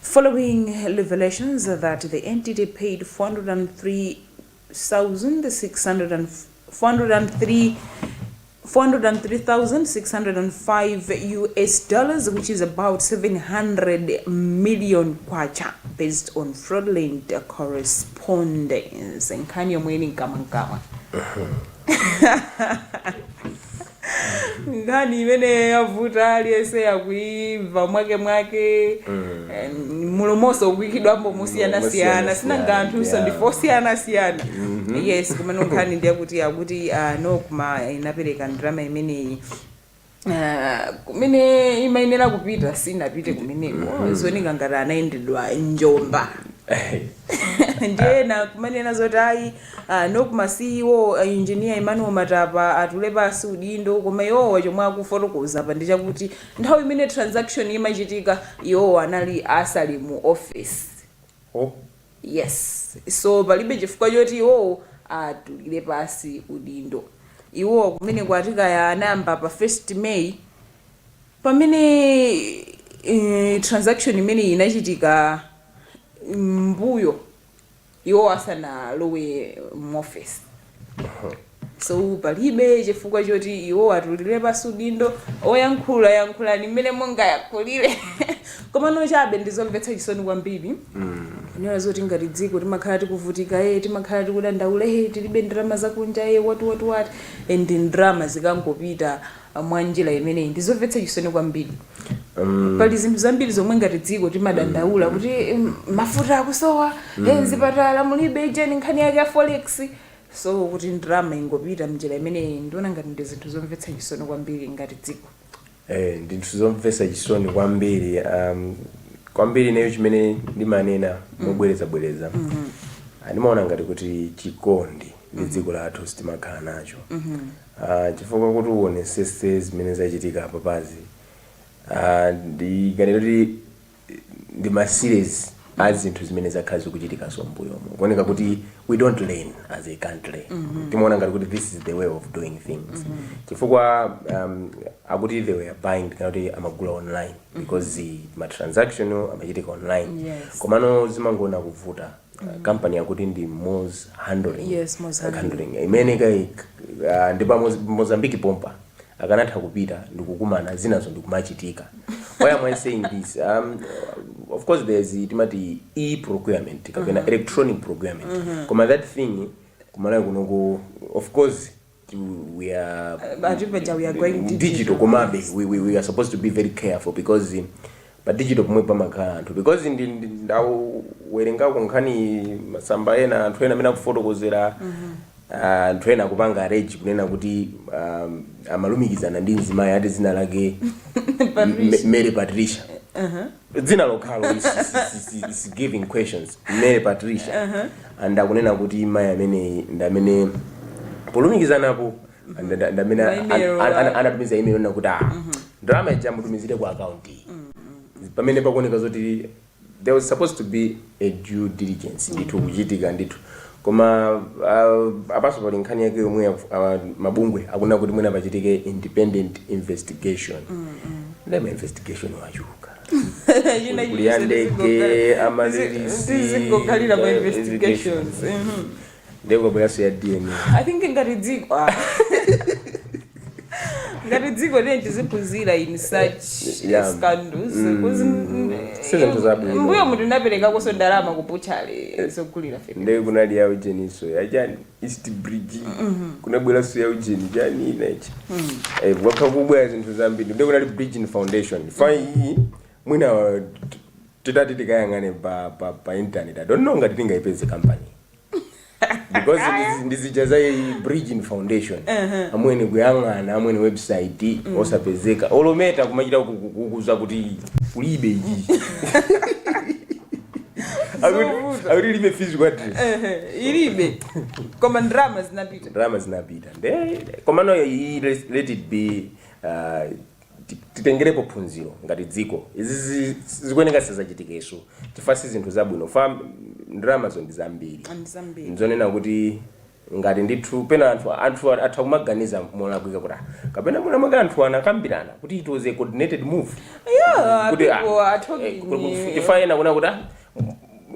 following revelations that the entity paid 403,605 US dollars which is about K700 million based on fraudulent correspondence nkhani yomwe ili mkamwamkamwa. nkhani imene yavuta aliyense yakuimva mwake mwake eh, mulomonso ukuikidwambo mosiyanasiyana sinanga anthunso ndife osiyanasiyana yes komano nkhani ndiyakuti akuti ah, Nocma inapereka ndrama imeneyi Ah, kumene imayenera kupita sinapite kumeneko zooneka ngati anayendedwa njomba ndiye ena akumanena zoti ayi Nocma CEO a Engineer Emmanuel Matapa atule pansi udindo koma iwowa chomwe akufotokoza apa ndi chakuti nthawi imene transaction imachitika iwowa anali asali mu office ho yes so palibe chifukwa choti iwowo atulire pansi udindo. Iwowa kumene akuti kaya anayamba pa 1st May pamene eeh transaction imeneyi inachitika mmbuyo. iwo asanalowe m'ofesi so palibe chifukwa choti iwo atulire pasi udindo oyankhula yankhulani mmene mungayankhulire komano chabe ndizomvetsa chisoni kwambiri kunena zoti ngati dziko timakhala tikuvutika e timakhala tikudandaula e tilibe ndalama zakunja e what what what and ndalama zikangopita mwanjira imeneyi ndi zomvetsa chisoni kwambiri pali zinthu zambiri zomwe ngati dziko timadandaula kuti em, mafuta akusowa eh, mzipatala mulibe ijeni nkhani yake ya forex so kuti ndalama ingopita mnjira imeneyi ndiona ngati ndi zinthu zomvetsa chisoni kwambiri ngati dziko Eh, ndi zinthu zomvetsa chisoni kwambiri um, kwambiri nayo chimene ndimanena mobwerezabwereza Ah, ndimaona ngati kuti chikondi ndi dziko lathu sitimakhala nacho Aaa chifukwa kuti uwonesese zimene zachitika apapazi aaa ndi ngati ndi ma series a zinthu zimene zakhala zikuchitikaso mmbuyomu kuoneka kuti we don't learn as a country timaona ngati kuti this is the way of doing things chifukwa um, akuti they were buying kapena kuti amagula online because ma transaction amachitika online Yes. komano zimangoona kuvuta uh, company yakuti ndi Moz Handling. Yes, Moz Handling. Imene kaya uh, ndi pa Moz- Mozambique pompa akanatha kupita ndikukumana zinazo ndikumachitika. Why am I saying this? Um, of course there's the timati e procurement kapena electronic procurement. Koma that thing kumalawi kunoko of course of course we are going digital digital. komabe we, we, we are supposed to be very careful because eh, pa digital pomwe pamakhala anthu because ndi- ndi- ndawerengako nkhani masamba ena anthu ena amene akufotokozera ah, anthu ena akupanga arrange kunena kuti um, amalumikizana ndi mzimayi ati dzina lake Patricia. M- mary patricia Dzina lokhalo is is is is giving questions Mary Patricia and akunena kuti mayi ameneyi ndi amene polumikizanapo and ndi amene Ma email an- an- ake. anatumiza email kunena kuti ah ndalama ija mutumizire ku account iyi pamene pakuoneka zoti there was supposed to be a due diligence ndithu kuchitika ndithu koma uh, apanso pali nkhani yake yomwe uh, mabungwe akuna kuti mwina pachitike independent investigation nde ma investigation achuluka Ina Kuli ya ina ndege, zizingo- amaryllis, zizingokhalira pa eh, investigations Mhm. ndiye kwabweranso ya dna i think ngati dziko ah. ngati dziko let's tiziphunzira in such Yeah. scandals Because, mm, Si zinthu zabwino. m'mbuyomu tinaperekakonso ndalama ku butchery zogulira feteleza ndiye kunali ya ujeninso yachani east bridge kunabweranso ya ujeni chani inayi Eh, kwakhala kukubwera zinthu zambiri ndiye kunali bridging foundation fa iyi mwina uh, t- titati tikayang'ane pa, pa, pa internet i don't know ngati tingayipeze company because ndizi- ndizija za iyi bridging foundation amwene kuyang'ana amwene website osapezeka olo Meta kumachita ku- ku- kukuuza kuti kulibe ichi Akuti- akuti ilibe physical address ilibe koma ndalama zinapita ndalama zinapita nde komano iyi let- let it be uh, titengerepo phunziro ngati dziko izizi zikuyeneka zisadzachitikenso chifukwa si zinthu zabwino fa ndalamazo ndi zambiri And zambiri. nzonena kuti ngati ndithu pena anthu anthu atha kumaganiza molakwika kuti "Ah, kapena mwina mwake anthu anakambirana kuti it was a coordinated move Yeah, kuti ah, people are eh, talking. kuti- kuti- chifukwa ena akunena kuti ah,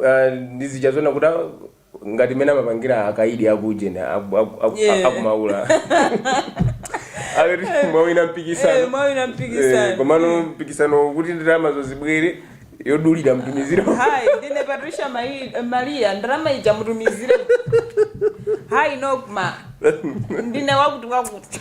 ah, ndizija zonena kuti ah, ngati mmene amapangira akaidi aku ujeni aku- aku- aku- aku- Yeah. aku Maula akuti mwawina Eh, mpikisano mwawina mpikisano. Eh, komano mpikisano kuti ndalamazo zibwere yambani mwatumizira iyi ndine patricia Mai- maria ndalama ija mutumizire apayi nocma ndine wakuti wakuti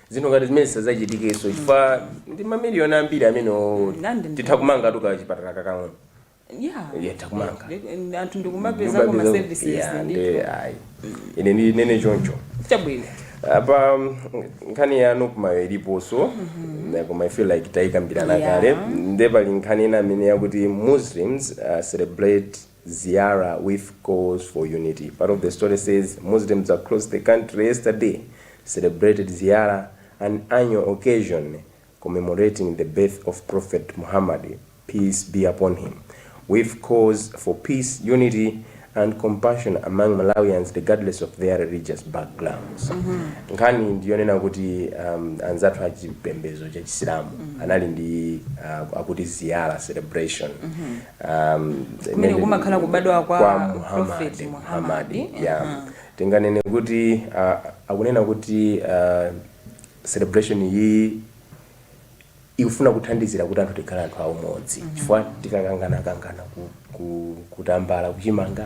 zinthu ngati zimenezi zisadzachitikenso chifukwa ndi mamiliyoni ambiri amene o- Nandi ndi- titha kumanga ti kachipatala kakang'ono yeah Yeah, titha kumanga. Ndi- anthu ndikumapezako Nyumba ma ndizo- services Yeah, ndi ndi- ayi. ine ndinene choncho chabwino apa mm, nkhani ya nocmayo iliponso Na koma i feel like tayikambirana Yeah. kale nde pali nkhani ina amene yakuti muslims uh, celebrate Ziara with calls for unity. Part of the story says Muslims across the country yesterday celebrated Ziara, an annual occasion commemorating the birth of Prophet Muhammad, peace be upon him, with calls for peace, unity and compassion among Malawians regardless of their religious backgrounds. Nkhani ndiyonena kuti um, anzathu a chipembedzo cha Chisilamu anali ndi uh, akuti Ziara celebration um, kumene kumakhala kubadwa kwa, Prophet Muhammad, Muhammad. Yeah. Uh -huh. tinganene kuti uh, akunena kuti uh, celebration iyi ikufuna kuthandizira kuti anthu tikhale anthu aumodzi mm -hmm. chifukwa tikakangana kangana ku, ku, kutambala kuchimanga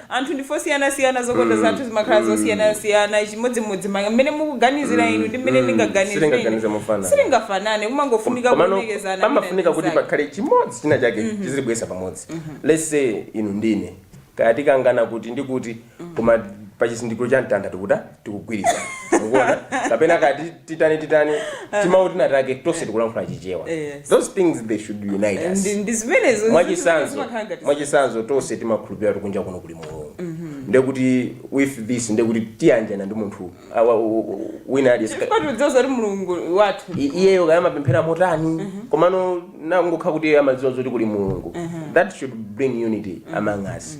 anthu ndife osiyanasiyana zokonda zathu zimakhala zosiyanasiyana chimodzimodzi ma- mmene mukuganizira inu ndi mmene ndingaganizire silingaganize ine. mofanana silingafanane kumangofunika komano kuonekezana wina pamafunika ndi kuti pakhale chimodzi china chake chizitibweresa pamodzi let's say inu ndine kaya tikangana kuti ndikuti koma pa chizindikiro cha mtanda tikuta tikugwirizana ukuona kapena ka ti- titani titani timawu tina take tonse tikulankhula chichewa Yes. those things they should unite us Ndi- ndi zimenezo mwachisanzo zimakhala ngati- mwachisanzo tonse timakhulupirira kuti kunja kuno kuli mulungu ndekuti with this ndekuti tiyanjana ndi munthu awa- u- u- wina aliyense Chifukwa tikudziwa kuti mulungu wathu I- iyeyo kaya amapemphera motani komano nangokha kuti amadziwa zoti kuli mulungu that should bring unity among us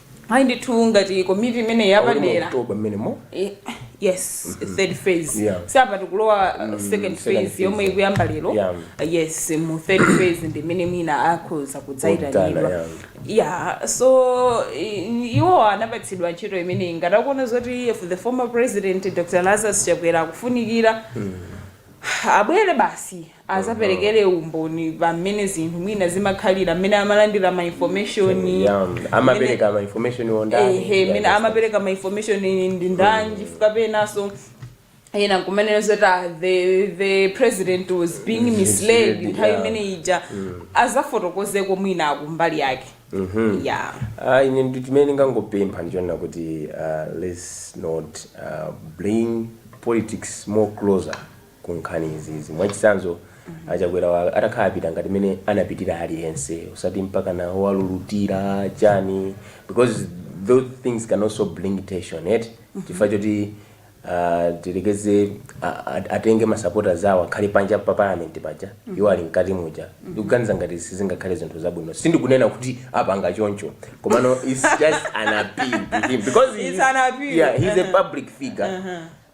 ayi ndithu ngati komiti imene Aulimo yapadera October mmenemo. Eh, yes third phase Yeah. si apa tikulowa uh, second second phase phase, yomwe yeah. ikuyamba lero Yeah. Uh, yes mu third phase ndi imene mwina akhoza Kudzana, kudzaitanidwa yeah. yeah so i- iwo anapatsidwa ntchito imeneyi ngati akuona zoti if the former president dr lazarus chakwera akufunikira abwere basi azaperekere umboni pa mmene zinthu mwina zimakhalira mmene amalandira ma information Yeah, mmene- amapereka ma information on that. ehe Yeah, mmene that's- amapereka ma information ndi ndani chifukwa penanso ena akumanena zoti ah, the, the president was being misled Misled, nthawi yeah. imene ija azafotokozeko mwina akumbali yake yeah Ah, ine ndi chimene ndingangopempha ndichonena kuti uh, let's not uh, bring politics more closer ku nkhani izizi. Mwachisanzo, a Chakwera atakhala apita ngati mene anapitira aliyense osati mpakana owalulutira chani because those things can also bring tension eti chifukwa choti ah, tiyerekeze a- a- atenge masapotazi awo akhale panja pa parliament paja iwo ali mkati muja ndikuganiza ngati sizingakhale zinthu zabwino sindikunena kuti apanga choncho komano its just an appeal to him because he- It's an appeal. yeah, he's a Uh-huh. public figure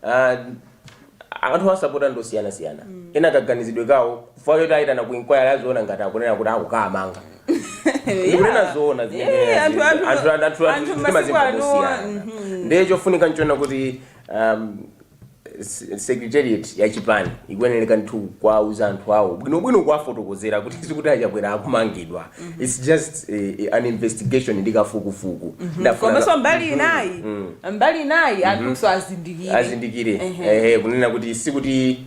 Ah, anthu asapota ndi osiyanasiyana ena kaganizidwe kawo chifukwa choti ayitana ku inquiry aziona ngati akunena kuti akukawamanga ndikunena zoona zimene Yeah, ndinena anthu- zija. anthu- Anthu- anthu- anthu anthu masiku timazimva ano, mosiyana. mhm. ndiye chofunika nchonena kuti um, se- secretariat ya chipani ikuyeneleka ndithu kwauza anthu awo bwinobwino kuwafotokozera kuti sikuti achakwera akumangidwa its just eh, eh, an investigation ndi kafukufuku Ndafuna- komanso mbali inayi mbali inayi anthunso azindikire azindikire Ehe. ehe kunena kuti sikuti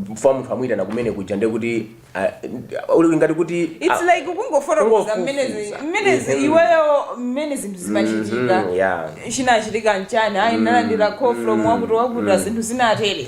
chifukwa munthu amuyitana kumene kuja nde kuti ah, uli ngati kuti its ah, like kungofotokoza kungofufuza. minutes minutes Mhm. iweyo mmene zinthu zimachitika mhm, yeah. chinachitika nchani ayi nalandira call from wakuti wakuti zinthu zinatere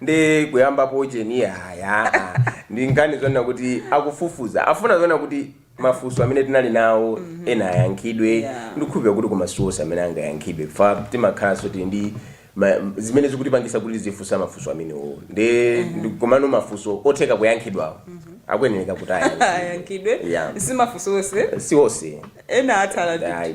nde kuyambapo cheni yaya ndi nkhani zonena kuti akufufuza afuna zonena kuti mafunso amene tinali nawo ena ayankhidwe Yeah. ndikukhulupirira kuti koma siwonse amene angayankhidwe fa timakhalanso tili ndi ma- zimene zikutipangisa kuti tizifunsa mafunso amenewo nde ndi- komano mafunso otheka kuyankhidwawo akuyenereka kuti ayankhidwe ayankhidwe Yeah. simafunso onse siwonse ena atsala ndi Ayi.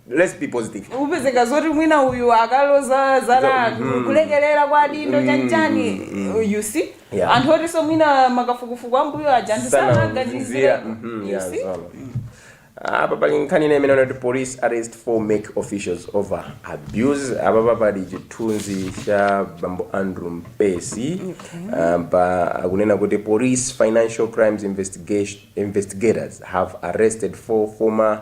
let's be positive upezeka zoti mwina uyu akaloza zala Mhm. kulekelera kwa adindo chanchani you see Yeah. anthu otinso mwina makafukufuku ambuyo aja anthu Sana sanaganizira mzira. Mhm, yeah, zona. apa pali nkhani ina imene anati police arrest four MEC officials over abuse apapa pali chithunzi cha bambo Andrew Mpesi um, pa akunena kuti police financial crimes investigation, investigators have arrested four former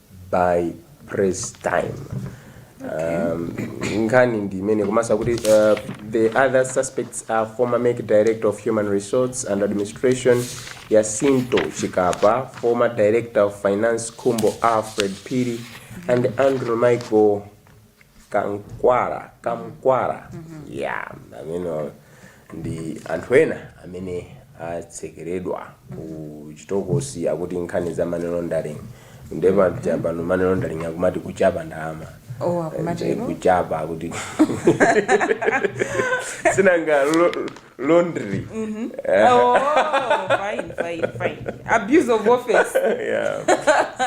by press time um, nkhani ndi imene komanso kuti uh, the other suspects are former MEC director of human resource and administration Yacinto Chikapa former director of finance Khumbo Alfred Phiri and Andrew Michael Kamkwara Kamkwara ya amene ndi anthu ena amene atsekeredwa ku chitokosi akuti nkhani za money laundering nde pano money laundering akumati kuchapa ndalama Oh, akumati Eh, kuchapa kuti sinanga lo- laundry Oh, fine, fine, fine. Abuse of office. yeah.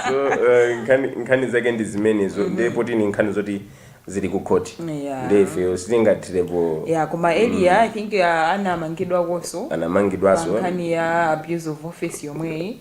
so uh, nkhani nkhani zake ndi zimenezo ndiye poti ni nkhani zoti zili ku khoti Yeah. ndiye ifeyo sitingathirepo Yeah, koma earlier I think uh, anamangidwakonso anamangidwanso pankhani ya abuse of office yomweyi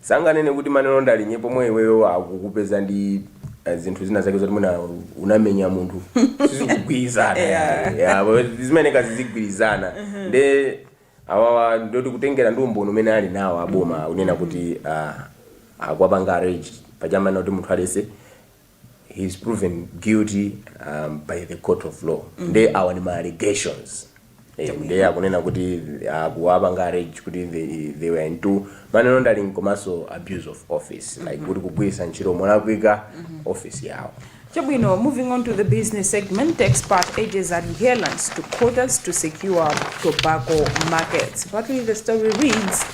Sanganene kuti money laundering pomwe iweyo akukupeza ndi eh, zinthu zina zake zoti mwina unamenya munthu sizikugwirizana Yeah. Yeah, but zimayenera zizigwirizana nde awawa ndoti kutengera ndi umboni umene ali nawo aboma kunena kuti ah, akuwapanga allege paja amanena kuti munthu aliyense he is proven guilty um, by the court of law mm. nde awa ndi ma allegations Eh, nde akunena kuti akuwapanga allege kuti they, they were into money laundering komanso abuse of office like kuti kugwiritsa ntchito molakwika office yawo Chabwino, moving on to the business segment, expert urges adherence to quotas to secure tobacco markets. Partly the story reads,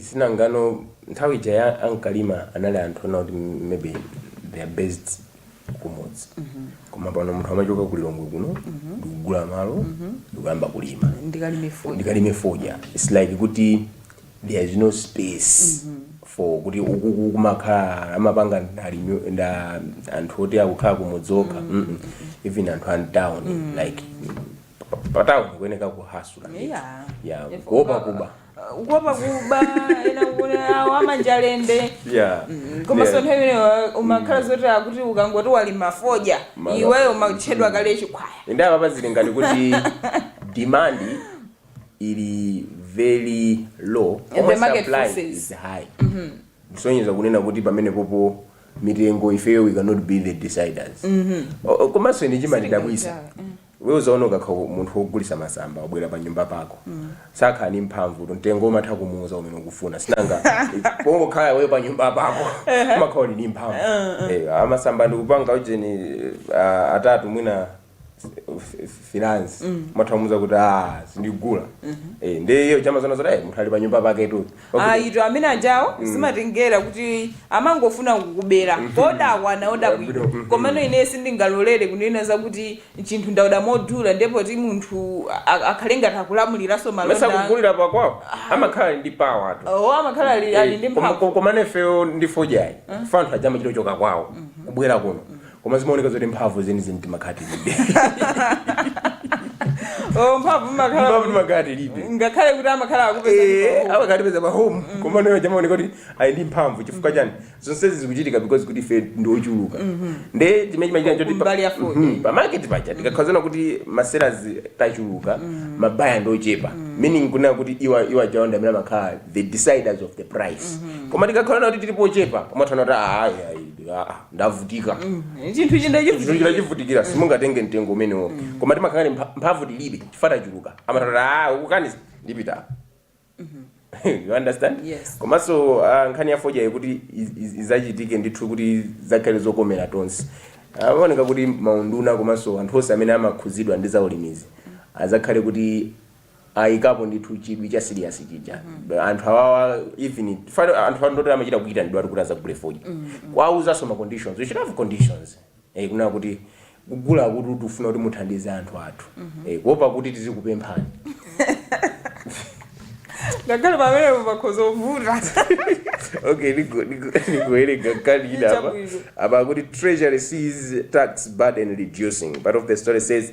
sinangano nthawi ija ya ankalima anali anthu ena kuti maybe they are based kumudzi koma pano munthu amachoka ku lilongwe kuno ndikugula malo ndikuyamba kulima ndikalime foni ndikalime fodya its like kuti there is no space for kuti ukuku kumakhala amapanga ndalimi- nda anthu oti akukhala kumudzi okha Mm-mm. even anthu a mtown like pa- pa town kuyeneka kuhasula Yeah. ya If kuopa uka- kuba kuopa kuba ena kuti awo amanja lende yeah Mm, komanso Yeah. nthawi imeneyo umakhala zoti akuti ukangoti walima fodya Mala- iweyo umatchedwa kale chikhwaya ende apapa zili ngati kuti demand ili very low the koma market supply forces. is high kusonyeza kunena kuti pamene popo mitengo ifeyo we cannot be the deciders O- o- komanso ine chimandidabwisa Iwe uzaona ukakha munthu wogulisa masamba wabwera pa nyumba pako sakhala ndi mphamvutu mtengo umatha kumuuza umene ukufuna sinanga pongokhala iweyo pa nyumba pako umakhala uli ndi mphamvu Eh, ah, masamba ndikupanga ujeni ah, atatu mwina five hands umatha kumuuza kuti ah sindigula Eh, ndi iwo aja amaziona zoti eh, munthu ali pa nyumba paketu Okay. ayitu amene ajawo zimatengera kuti amangofuna kukubera kodakwa nawo chabwino Chabwino, mhm. komano ine sindingalolere kunena zakuti chinthu ndaoda modula ndi poti munthu a- a- akhale ngati akulamuliranso mesa malonda kugulira pakwawo amakhala ndi power tu o amakhala ali ali ndi mphamvu komano ifeyo ndi fodyayi anthu aja amachitochoka kwawo kubwera kuno koma zimaoneka zoti mphamvu zenizeni timakhala tilibe Oh, mphamvu mmakhala mphamvu timakhala tilibe ngakhale kuti amakhala akupeza Eh, amakatipeza pa home koma nawo aja amaoneka kuti ayi ndi mphamvu chifukwa chani zonsezi zikuchitika because kuti ife ndi ochuluka nde chimene chimachitika choti pa- Kumbali ya fodya. Mhm, pa market paja tikakhazana kuti ma sellers tachuluka ma buyer ndi ochepa meaning kunena kuti iwo iwo ajawo ndi amene amakhala the deciders of the price koma tikakhalana kuti tilipo ochepa umatha kunena kuti ayi ayi ah, ah. ndavutika chinthu china chinthuchi ndachivutikira simungatenge mtengo umenewo koma timakhala ndi mpha- mphamvu tilibe chifukwa tachuluka amatha kuti ah ukukaniza ndipita you understand Yes. komanso ah, nkhani ya fodya kuti iz- iz- izachitike ndithu kuti zakhale zokomera tonse amaoneka kuti maunduna komanso anthu onse amene amakhuzidwa ndi zaulimizi azakhale kuti ayikapo ndithu chidwi cha serious chija anthu awawa even fano anthuwa ndi oti amachita kuyitanidwa kuti azagule fodya kuwawuzanso ma conditions we should have conditions eh, kunena kuti kugula kuti tikufuna kuti muthandize anthu athu eh, kuopa kuti tizikupemphani ngakhale pamene pakhoza kuvuta okay niko- niko- nikuwerenga nkhani ina apa Chabwino. apa kuti treasury sees tax burden reducing part of the story says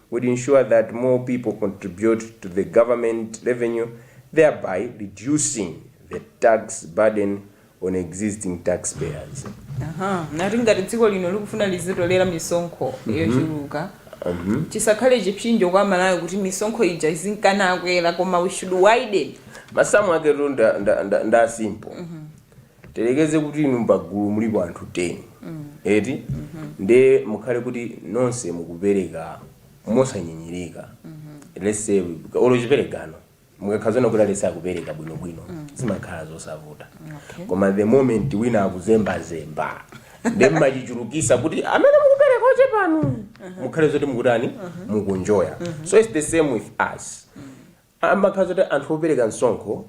would ensure that more people contribute to the government revenue thereby reducing the tax burden on existing taxpayers. Aha, nati ngati dziko lino likufuna lizitolera misonkho yochuluka chisakhale chipsinjo kwa aMalawi kuti misonkho ija izinkana akwera koma we should widen Masamu ake tu nda, nda, nda, nda simple. Tiyerekeze kuti inu m'pagulu mulipo anthu 10 eti nde mukhale kuti nonse mukupereka mosanyinyirika let's say olo chiperekano mukakhala zoona kuti aliyense akupereka bwino bwino zimakhala zosavuta Okay. koma the moment wina akuzembazemba nde mmachichulukisa kuti amene mukupereka ochepanu mukhale zoti mukutani mukunjoya so its the same with us amakhala zoti anthu opereka msonkho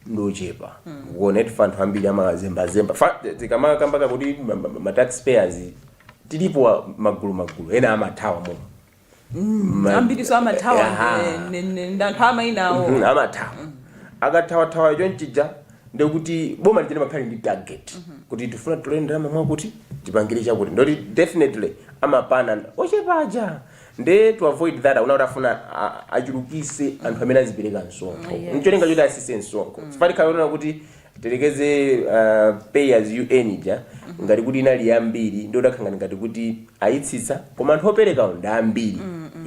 ndi ochepa ukuona eti anthu ambiri amazembazemba Fa- tikamakamba kakuti ma- ma- ma tax payers tilipo wa- magulu magulu ena amathawa mo Ma- ambiriso amathawa Aha. ndi- ndi- ndi anthu amainawo Mhm, amathawa akathawathawa chonchija ndekuti boma lija nde limakhala ndi target kuti tifuna titolere ndalama mwakuti tipangire chakuti ndoti definitely amapana ochepaja Nde to avoid that akuona kuti akufuna a- achulukise anthu amene azipereka msonkho Yes. ncholinga choti atsitse msonkho zifika pokhala onena kuti tiyerekeze uh, pay as you earn ija ngati kuti inali yambiri ndi udakhala ngati kuti ayitsitsa koma anthu operekawo ndi ambiri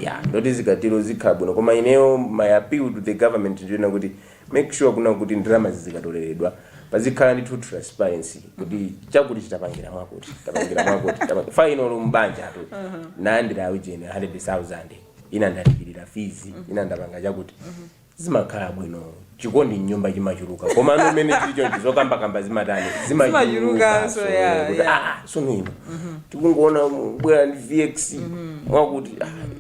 ya ndoti zikatero zikhala bwino koma ineyo my appeal to the government ndi yonena kuti make sure kunena kuti ndalamazi zikatoleredwa pazikhala ndithu transparency kuti chakuti tapangira mwakuti tapangira mwakuti tapangira- fine olo m'banjatu ndalandira aujeni 100000 ina ndalipirira fees ina ndapanga chakuti zimakhala bwino chikondi mnyumba chimachuluka koma pano mmene chili chonchi zokambakamba zimatani Zimachuluka, zimachuluka so, yeah, kuti, yeah. "Ah, ah, sono ino tikungoona bwera ndi vx mwakuti ah,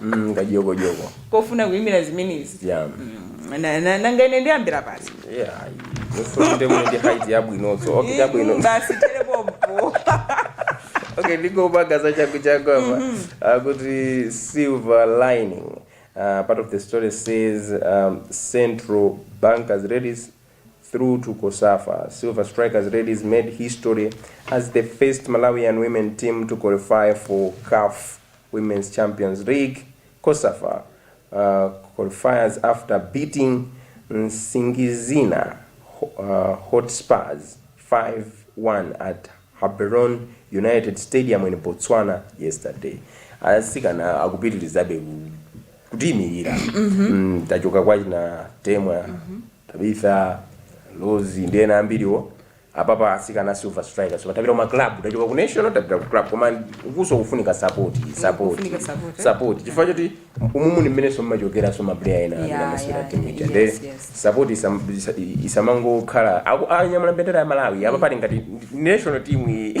mm, kajokojokoya kofuna kuyimira zimenezi yeah. Mm, na- na- nanga ine ndiyambira pansi yeah. of course muli ndi height yabwinoso okay chabwino basi terepompo okay ndingopanga zachanguchangu apa uh, kuti silver lining uh, part of the story says um, central bankers ladies through to cosafa. Silver Strikers ladies made history as the first Malawian women team to qualify for CAF Women's Champions League, cosafa, uh, qualifiers after beating Nsingizina uh, Hotspurs 5-1 at Haberon United Stadium in Botswana yesterday. Asikana akupitirizabe ku- kutiimirira mm, tachoka kwachina temwa Tabitha, Rose ndi ena ambiriwo apapa asikana Silver Strikers so tapita kuma club tachoka ku national tapita ku club koma ukunso kufunika support support kufunika support, eh? support chifukwa choti umumu ni mmene so mmachokera so maplayer ena amene Yeah, amasewera yeah, timu ija yes, nde yes. support isam- isa- isamangokhala akanyamula mbendera ya Malawi apa pali ngati national team iyi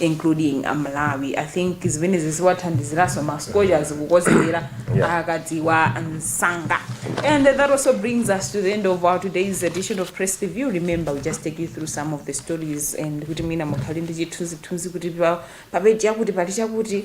including a malawi i think zimenezi ziwathandiziraso ma Scorchers kukonzekera Yeah. akadziwa msanga and that also brings us to the end of our today's edition of press review remember we just take you through some of the stories and kuti mwina mukhale ndi chithunzithunzi kuti pa- papeji yakuti pali chakuti